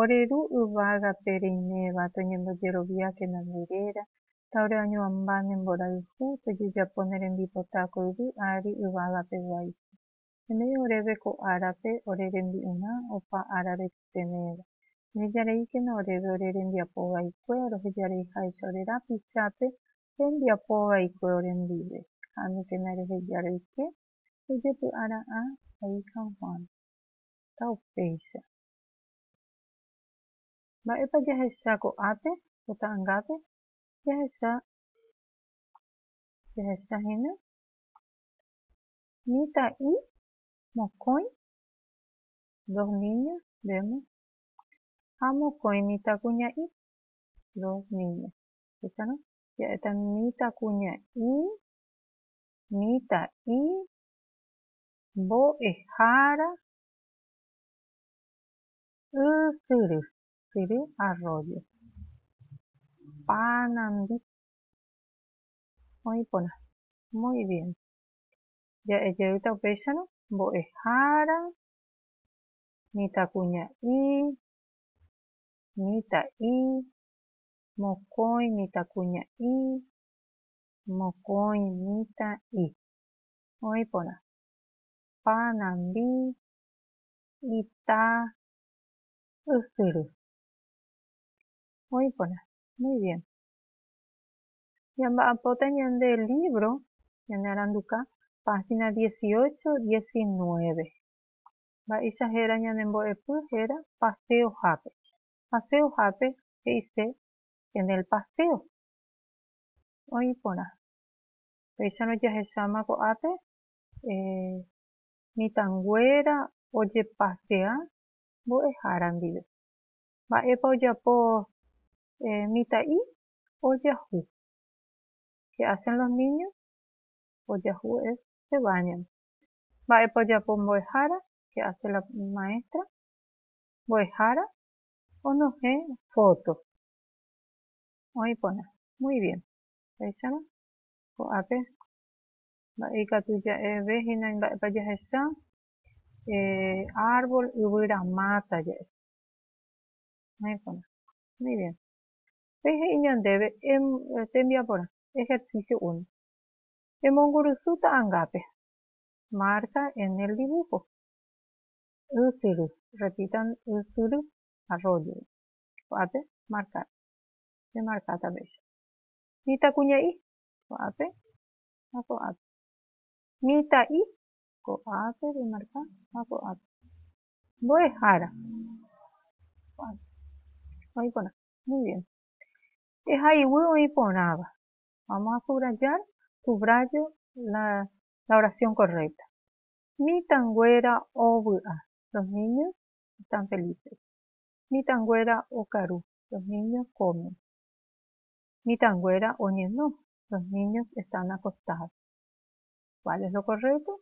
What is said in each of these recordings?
Ore ru yvágape reiméva toñembojeroviákena nde réra, ta ore oñuãmba ne mborayhu tojejapo ne rembipota ko yvy ári yvágape guáicha. Emei oréve ko árape ore rembi'urã opa ára repytevéva. Nejareíkena oréve ore rembiapo vaikue rohejareiháicha ore rapichápe rembiapo vaikue orendive. Ha'ãnukena reheja roike ojepy'ara'ã, he'i San Juan. ha upéicha. Mba'épa jahecha ko'ápe ko ta'angápe? Jahecha, jahecha hína mitã'i mokõi, dos niñas, vemos, ha mokõi mitãkuña'i, dos niñas. Escuchan, ¿no? Ja'éta mitãkuña'i, mitã'i, mbo'ehára ysyry, syry arroyo, panambi, oĩ porã, muy bien, ja'e jeýta upéicharõ mbo'ehára, mitãkuña'i, mitã'i, mokõi mitãkuña'i, mokõi mitã'i. oĩ porã, panambi, ita, ysyry. Oĩ porã. Muy bien. Ñamba'apóta ñande lívro ñanearanduka página dieciocho, diecinueve. Mba'éicha héra ñane mbo'epy héra paseohápe. Paseohápe he'ise en el paseo. Oĩ porã. Péicharõ jahecháma ko'ápe, mitãnguéra ojepasea mbo'ehára ndive. Mba'épa ojapo mitã'i? Ojahu. Ke ásen los niño? Ojahu es se báñan. Mba'épa ojapo mbo'ehára? Ke áse la maéstra? Mbo'ehára onohẽ fóto. Oĩ porã. Muy bien. Péicharõ ko'ápe, mba'e ikatu ja'eve hína imba'épa jahecha, árbol yvyra máta ja'e. Oĩporã. Muy bien. Upéi he'i ñandéve tembiaporã, ejercicio uno. Emongurusu ta'angápe. Marca en el dibujo. Ysyry. Repitan ysyry, arroyo. Ko'ápe, marcar. Pemarka tape. Mitãkuña'i, ko'ápe ha ko'ápe. Mitã'i, ko'ápe remarka ha ko'ápe. Mbo'ehára, ko'ápe. Oĩ porã. Muy bien. Ehayguy oĩ porãva. Vamos a subrayar, subrayo la, la oración correcta. Mitãnguéra ovy'a. Los niños están felices. Mitãnguéra okaru. Los niños comen. mitãnguéra oñeno, los niños están acostados. ¿Cuál es lo correcto?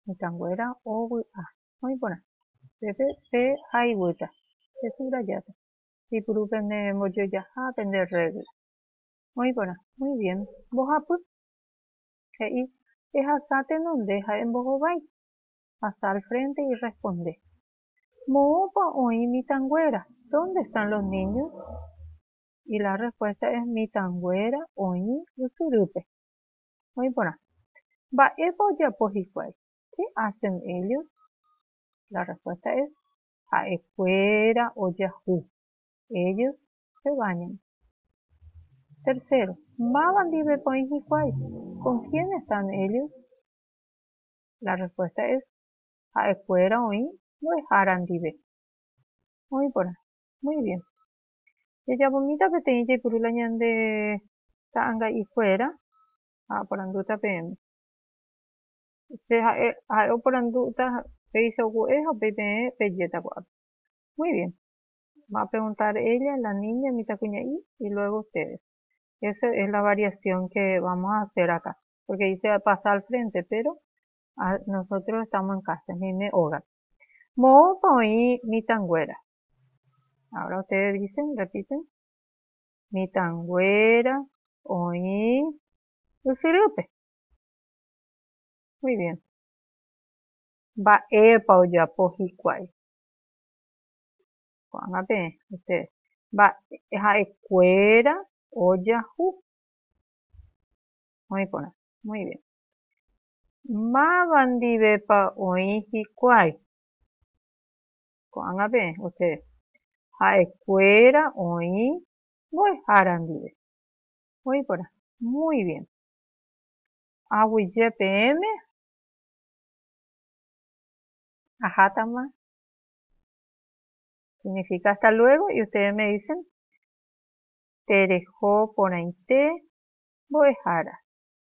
Mitãnguéra ovy'a. Oĩ porã. Pépe pe hayguýta, pe subrajáta. Ipuru pende mbojojaha pende regla. Oĩ porã. Muy bien. Mbohapy. He'i, Ehasa tenonde ha embohovái. Pasa al frente y responde. Moõpa oĩ mitãnguéra? Dónde están los niños? Y la respuesta es mitãnguéra oĩ ysyrýpe. Oĩ porã. Mba'épa ojapo hikuái? Qué hacen ellos? La respuesta es ha'ekuéra ojahu. Ellos se bañan. Tercero, máva ndivépa oĩ hikuái? Con quién están ellos? La respuesta es ha'ekuéra oĩ mbo'ehára ndive. Oĩ porã. Muy bien. Jajapomíta peteĩ jaipuru la ñande ta'anga'ikuéra ha oporandúta peẽme. Che ha'e, ha'e oporandúta péicha ogue'e ha upéi peẽ pejéta ko'ápe. Muy bien. Va a preguntar ella, la niña, mitãkuña'i, y luego ustedes. Eso es la variación que vamos a hacer acá. Porque dice pasa al frente, pero Nosotros estamos en casa, he'íne ógape. Moõpa oĩ mitãnguéra. Ahora ustedes dicen, repiten. Mitãnguéra oĩ ysyrýpe. Muy bien. Mba'épa ojapo hikuái. Ko'ág̃a peẽ ustedes. Mba'e ha'ekuéra ojahu. Oĩ porã. Muy bien. Máva ndivépa oĩ hikuái? Ko'ág̃a peẽ osẽ ha'ekuéra oĩ mbo'ehára ndive. Oĩ porã. Muy bien. Aguyje peẽme? Ahátama. Significa hasta luego y ustedes me dicen tereho porãite mbo'ehára.